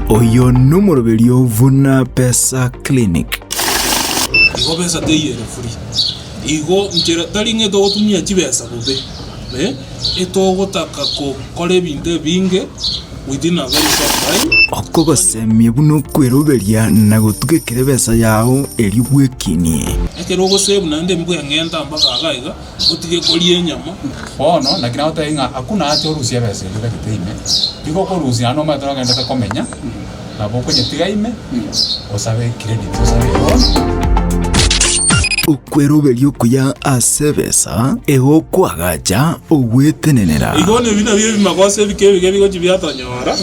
Oyo nomoroberio buna Pesa Clinic. igo besa teyere free igo nchera tari ng'a togotumia chibesa bobe eh, etogotaka gokora ebinto ebinge within a very short time Okogosemia buna okweroberia na gotuga ekere besa yao erio bwekinie. ekero ogosave naende mbweng'enta mpaka iga iga Otige koria enyama. Bono, naki nagotebia ng'a akwo nache orusie ebesa eria otagete ime, nigo okorusia naende omanyete nogendete komenya, nabo okonyetiga ime, osabe credit, osabe eloan. Okweroberia okuya ase ebesa egokwagacha ogwetenenera. Igo nebinto ebio ebimagoso ebike ebiga ebigochi biatonyora.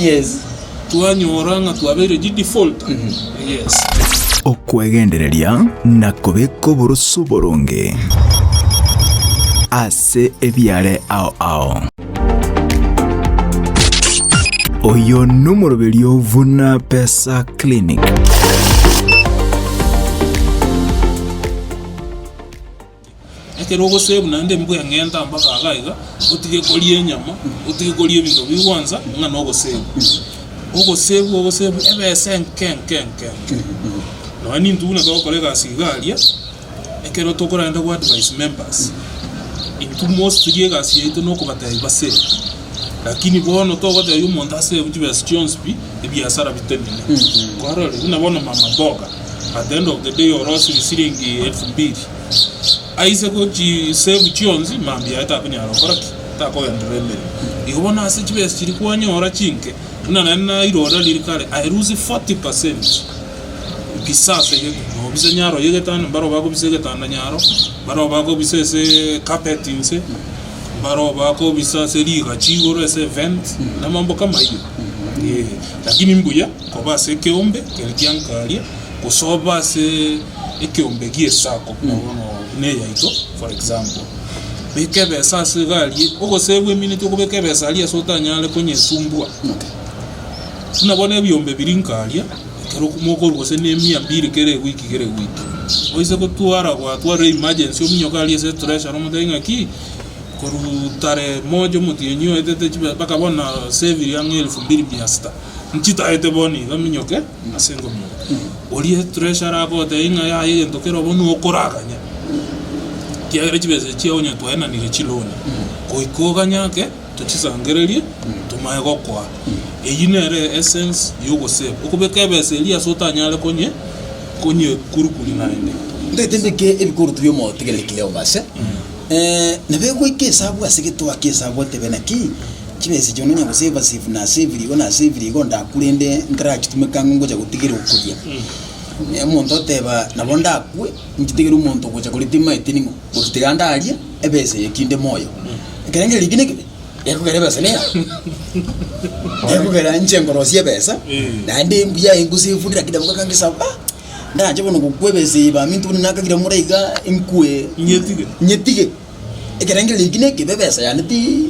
twanyora ng'a twabeire chi defaulter. Yes. Okwegendereria na kobeka oboroso boronge ase ebiare ao ao. Oyo nomoroberio buna Pesa Clinic. Ekero ogosave naende mbuya ng'enta mpaka iga iga, otige koria enyama, otige koria ebinto bi gwansa, ng'a na ogosave. Ogosave ogosave ebesa enke enke enke enke. Nonya na intwe buna togokora egasi iga aria, ekero tokorenda go advise members, intwe mostly egasi yaito nokobatebia basave. Lakini bono togotebia omonto ase ebi chibesa chionsi pi, ebiasara bitenene. Kwarorire buna bono mama mboga, at the end of the day orosire siringi elfu mbili. Aise go chi save chionsi, mambia aye takonyara gokora ki? Takogenderera emeremo. Igo bono ase chibesa chiria kwanyora chinke, buna naende nairora riria kare, I lose 40%. Bisa ase egetanda, nobisa nyaro ya egetanda, mbarogo bakobisa egetanda nyaro, mbarogo bakobisa ase carpet inse. baroo bakobisa ase riga chigoro ase event na amamboka amayio eh, lakini mbuya koba ase ekeombe kere kiankaria gose obe ase ekeombe gie sacco buna bono buna eyaito for example beka ebesa ase iga aria ogosee bwemineti okobeka ebesa aria ase otanyare konyesumbua buna bono ebiombe biria nkaria. ekero mokorwa gose ne emia mbiri kera ewiki kera ewiki. Oise gotwara gwatwarire emergency ominyoke aria ase treasury omotebi ng'a ki, korwa tarehe moja omotienyi oetete chibe mpaka bono na saviri ang'e elfu mbiri mia sita, nchitaete bono iga minyoke ase engomiyo. Oria treasury agotebi ng'a yaya egento kera obo nigo okoraganya, ekiagera chibesa echi onye twaenanire chiloan, goika oganye ake. Tochisangererie, tomae gokoa. Eyio nere essence y'ogosave, okobeka ebesa eria ase otanyare konye konye kurukuri naende. Ndagete mbeke ebikorutu bi'omotigereri Cleoba ase, nabo egoika esabu ase getoa ki'esabu otebe naki chibesa echio nonya gose ebasave na ase ebirigo na ase ebirigo ndakure inde ndirachitumeka ang'o ngocha gotigera okuria. Omonto oteba nabo ndakwe nchitegere omonto ogocha koritima eteni ng'o. Motiga ndarie ebesa eye tinde moyo. Ekero ngere ribi neke gekogera ebesa niga. Gekogera nche nkorosia ebesa. Naende embuya aye ngose efundi lakini nabo gaka ngesaba. Ah! Ndanche bono gokwa ebesa eye baminto bono nakagira more iga nkwe. Nyetige. Nyetige. Ekero ngere ribi neke be ebesa yane ti.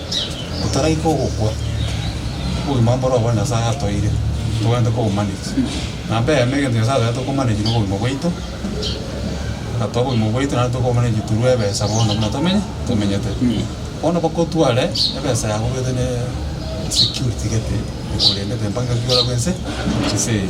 otaraika ogokwa, obogima mboro obore Nyasae atoire, togende kobomanyeria. Na mbeemo egento Nyasae atagete tokomanyeria nobogima bwaito, agatoa obogima bwaito naende tokobomanyeria through ebesa bono buna tomenye, tomenyete. Bono bakotware ebesa yabo obete ne security gete ekorendete mpaka ekero okorwa bwense ense eye.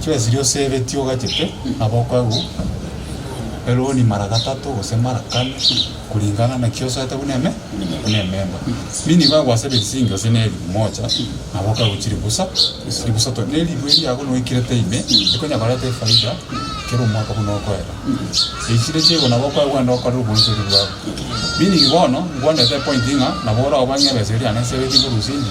Chiesiri oseretie ogachete abokoegwa eroni mara gatato gose mara kane kuringana naki osoete buna eme buna ememba. Mimi nigo agwasebetie chingi gose ne elifu mocha na abokoegwa chiribusa ribusa to ne elifu eria yago noikirete ime ekonya koreta efaida kera omwaka buna okoera. Echi ne chiaigwa na bokoegwa enda okore obonchori bwago. Mimi bono ngwanete epointi ng'a nabo orabwo ng'a ebesa eria yane nseretie korwa osinche.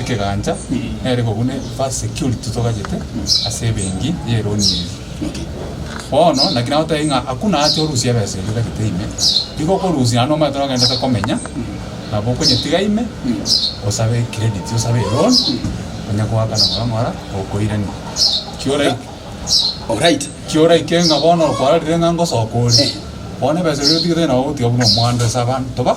ekegancha nere ko buna first security togachete ase ebenki ya eloan eria. Bono naki nagotebia ng'a hakuna haja orusie ebesa eria otagete ime, nigo okorusia naende omanyete nogendete komenya, nabo okonyetiga ime, osabe ecredit osabe eloan, onye goakana ng'ora ng'ora gokoirani. Ki ora- Oraite. ki oraike ng'a bono okwarorire ng'a ngosoka ore, bono ebesa eria otigete nabo ogotiga buna omwando ase abanto ba.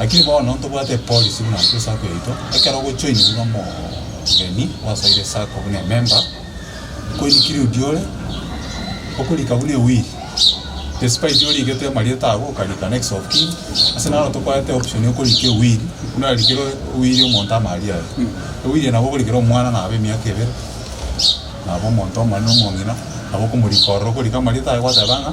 Lakini bono ntobwate epolisi buna ase esako yaito, ekero ogochoini buna omogeni osaire esako buna ememba, okoini kirudi ore, okorika buna ewili, despite origete amarieta ago okarika next of kin, ase naro tokoete option ya okorika ewili, buna arikire ewili omonto amaaria aye, ewili eye nabo okorikera omwana nabo emiaka ebere, nabo omonto omonene omong'ina, nabo okomorika ororo okorika amarieta aye gwateba ng'a.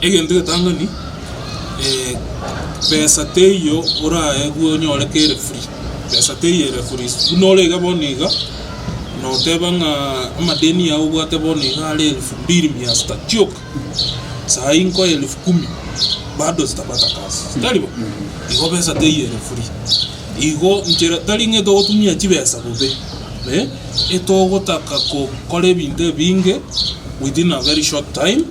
egento egetang'ani pesa teiyo orae bwa onyore kere free, pesa teiyo ere free, buna ore iga bono iga, noteba ng'a amadeni ao obwate bono iga are elfu mbiri mia sita chioka, saii nkoye elfu kumi, bado sitapata kazi, tari bo? igo pesa teiyo ere free. Igo nchera tari ng'a togotumia chibesa bobe, eh, etogotaka gokora ebinto ebinge within a very short time,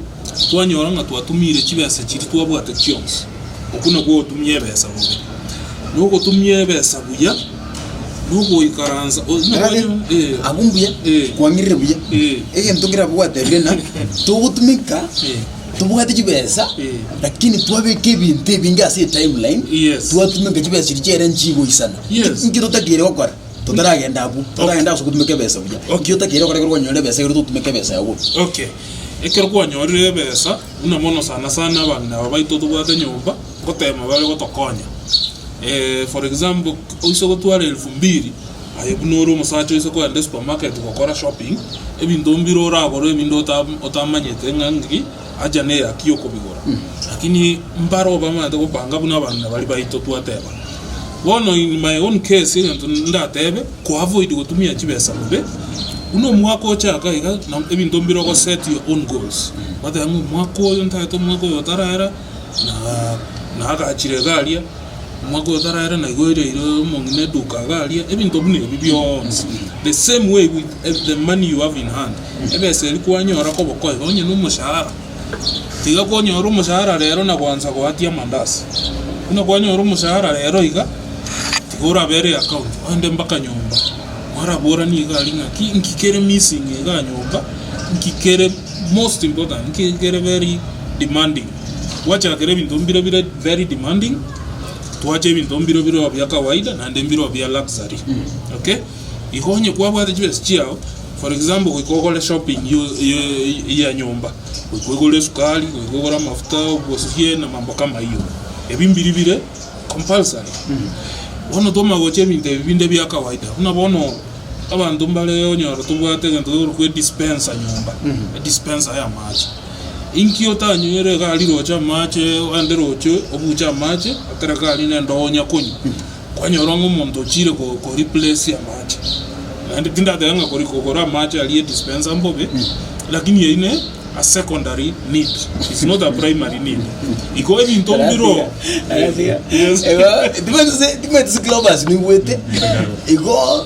twanyora ng'a twatumiire chibesa chiria twabwate chionsi. Okwo nakwo ogotumia ebesa bobe. Na ogotumia ebesa buya, na ogoikaransa o- onye Erage, kwanyora- eh, abwo mbuya, eh, kwang'irire buya. Eh. Egento keria abwo gwatebirie ng'a, togotumeka Eh. Tobwati chibesa lakini twabeka ebinto ebinge ase etimeline Yes. twatumeka chibesa chiria chiaira nchigoisana Yes. inki totakeire gokora totaragenda abwo totaragenda ase ogotumeka ebesa buya Okay. inki otakeire gokora ekero kwanyora ebesa egere totumeke ebesa yabo buya Okay. Ekero kwanyorire ebesa, buna mono sana sana abagina aba baito tobwate nyomba, ngoteba babe gotokonya. Eh, for example, oise gotwara elfu mbiri, Aye buna ore omosacha oise kogenda esupermarket gokora shopping, ebinto mbire oragore ebinde otamanyete ng'a ng'aki haja neyaki okobigora. Lakini mbare obamanyete gopanga buna abana baria baito twateba. Bono in my own case egento ndatebe, ko avoid gotumia chibesa bobe, buna omwaka ochaka iga ebinto mbire ogo set your own goals. Otebe ng'a omwaka oyo ntagete omwaka oyo otarera na naagachire iga aria. Omwaka oyokera ere naye oiraire omong'ina eduka agaria ebinto buna ebi bionsi. The same way with the money you have in hand. Ebesa eria kwanyora kobokoe onye na omoshahara. Tiga konyora omoshahara rero na gwansa goatia amandazi. Buna kwanyora omoshahara rero iga, tiga orabere account ogende mpaka nyomba. Mwaraboranie iga aria ng'a ki inki kere missing igaa nyomba, inki kere most important, inki kere very demanding. Gwachakire ebinto mbire bire very demanding, twacha ebinto mbire bire oo bia kawaida naende mbire oo bia luxury, okay? Igo onye kwabwate chibesa chiao, for example goika ogore shopping yo- yo- ya nyomba, goika ogore esukari, goika ogore amafuta, obosibie na mambo kama ayio, ebi mbiri bire compulsory. Bono twamanya gocha ebinto ebi binde bia kawaida, buna bono abanto mbare onyore tobwate egento tokoroku edispenser nyomba, edispenser y'amache. Inki otanywire iga aria roche amache, aande roche obuche amache, ekero iga aria nende onya konywa? Kwanyora ng'a omonto ochiire ko replace amache. Naende tindatebe ng'a kogora amache aria edispenser mbobe, lakini eyio ne a secondary need, it's not a primary need. Igo ebinto mbiroo Yes. Igo timanyeti si Cleopas nigwete igo.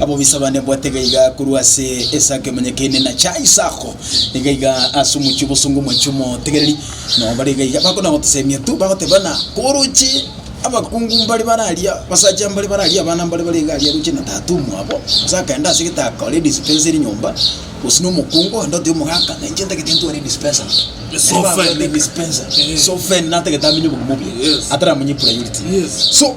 Abobisa bane bwate gaiga korwa ase Isaka emenyekeine na cha Isako niga iga ase omochie obosongo omochie omotegereri nao bare iga iga bakona gotosemia tu bagoteba na koroche abakungu mbare bare aria abasacha mbare bare aria abana mbare bare iga aria roche na tata omwabo gose akenda ase getaka ore dispenser nyomba gose na omokungu onde oteba omogaka na inche ntagete ntware dispenser Sofa ene. dispenser Sofa ene natagete amenye obogima obuya Yes. ataramonye priority Yes. so